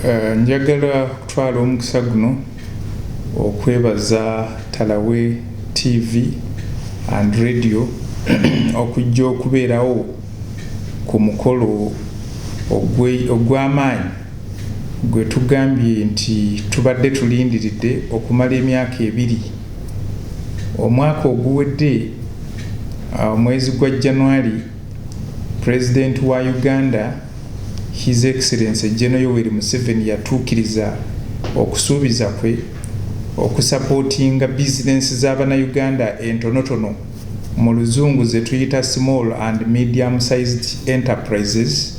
Eh, njagala okutwala omukisa guno okwebaza talawe tv and radio okujja okubeerawo ku mukolo ogw'amaanyi gwe tugambye nti tubadde tulindiridde okumala emyaka ebiri omwaka oguwedde ah, omwezi gwa januari President wa Uganda His Excellency General Yoweri Museveni yatuukiriza okusuubiza kwe okusapootinga bizinensi za Bannayuganda entonotono, mu luzungu ze tuyita Small and Medium Sized Enterprises,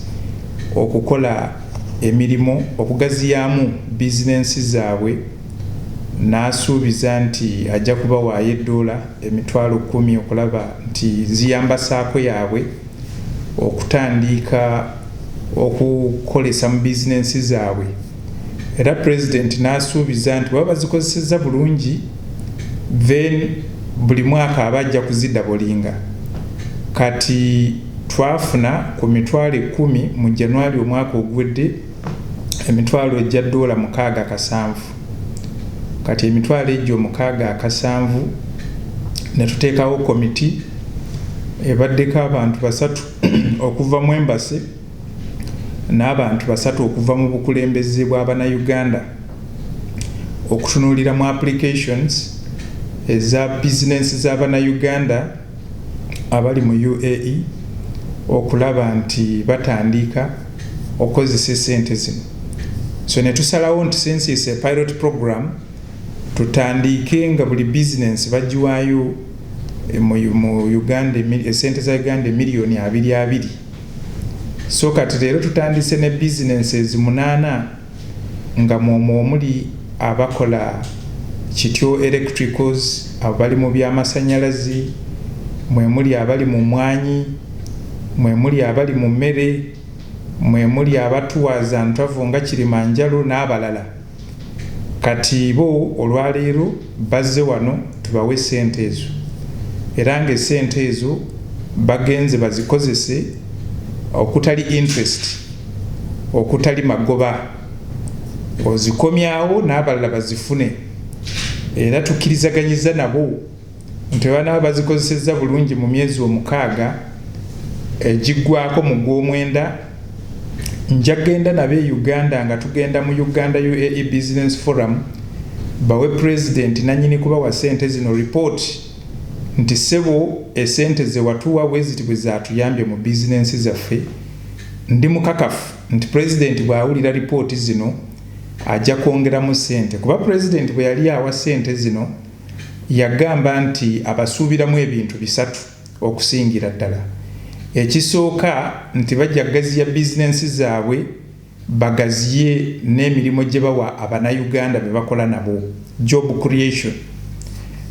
okukola emirimu okugaziyaamu bizinensi zaabwe. n'asuubiza nti ajja kubawaayo eddoola emitwalo kkumi okulaba nti ziyamba saako yaabwe okutandiika okukolesa mu bizinensi zaabwe era Pulezidenti n'asuubiza nti bwe baba bazikozesezza bulungi then buli mwaka aba ajja kuzidabolinga kati twafuna ku mitwalo ekkumi mu January omwaka oguwedde. emitwalo egya ddoola mukaaga kasanvu kati emitwalo egyo mukaaga akasanvu ne tuteekawo komiti ebaddeko abantu basatu okuva mu embasi n'abantu basatu okuva mu bukulembeze bw'abanauganda okutunuulira mu applications eza bizinensi z'abanauganda abali mu UAE okulaba nti batandiika okukozesa esente zino so netusalawo nti since is a pilot program tutandiike nga buli bizinensi bagiwaayo eh, mu uganda esente eh, za uganda emiliyoni abiri abiri so kati leero tutandise ne bizinensi ezimunaana nga mwomwo omuli abakola Kityo Electricals, abali mu by'amasanyalaze, mwe muli abali mu mmwanyi, mwe muli abali mu mmere, mwe muli abatuwa za ntwavu nga Kirimanjalo n'abalala kati bo olwaleero, bazze wano tubawe sente ezo era nga esente ezo bagenze bazikozese okutali interest okutali magoba ozikomyawo n'abalala bazifune era tukkirizaganyiza nabo nti banaba bazikozesezza bulungi mu myezi omukaaga egiggwako mu gwomwenda njagenda nabo e uganda nga tugenda mu uganda uae business forum bawe president nanyini kubawa sente zino report nti sebo esente zewatuwa bweziti bwezatuyambye mu bizinensi zaffe ndi mukakafu nti president bwawulira report zino ajja kwongeramu sente kuba president bweyali awa sente zino yagamba nti abasuubiramu ebintu bisatu Okusingira ddala ekisooka nti bajja kugaziya bizinensi zaabwe, bagaziye n'emirimu gye bawa Abanayuganda be bakola nabo, job creation.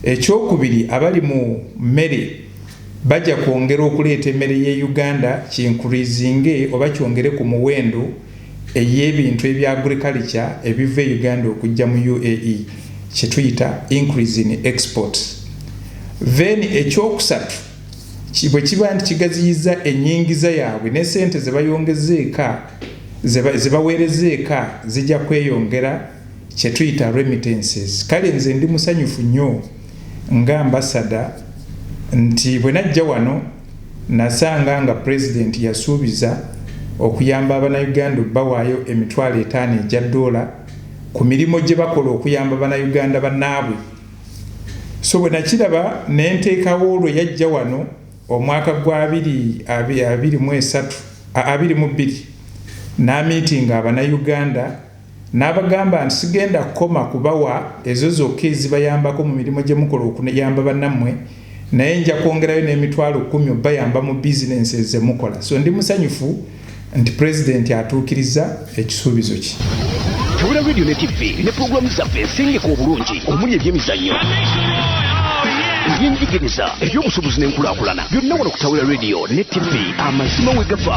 Ekyokubiri abali mu mmere bagya kwongera okuleeta emere y'e Uganda kiinkuriizinge oba kyongere ku muwendo, ey'ebintu ebya agriculture ebiva e Uganda okujja mu UAE kyetuyita increase in exports. Then ekyokusatu bwe kiba nti kigaziyizza ennyingiza yaabwe ne sente ze bayongeza eka ze baweereza eka zijja kweyongera kye tuyita remittances. Kale nze ndi musanyufu nnyo nga ambasada nti bwe najja wano Nasanga nga Pulezidenti yasuubiza okuyamba Abanayuganda obbawaayo emitwalo etaano egya doola ku mirimu gye bakola okuyamba Banayuganda bannaabwe so bwe nakiraba ne nteekawo lwe yajja wano omwaka gwa abiri abiri mu esatu, abiri mu bbiri n'amiitinga Abanayuganda. N'abagamba nti, Sigenda kukoma kubawa ezo zokka ezibayambako mu mirimu gye mukola okuyamba bannammwe, naye nja kwongerayo n'emitwalo kkumi obayamba mu bizinensi ezo ze mukola. So ndi musanyufu nti Pulezidenti atuukirizza ekisuubizo kye. Tabula Radio ne Ttivvi ne pulogulaamu zaffe ensengeke obulungi omuli ebyemizannyo, ebyenjigiriza, ebyobusuubuzi n'enkulaakulana byonna wano ku Tabula Radio ne Ttivvi, amazima we gava.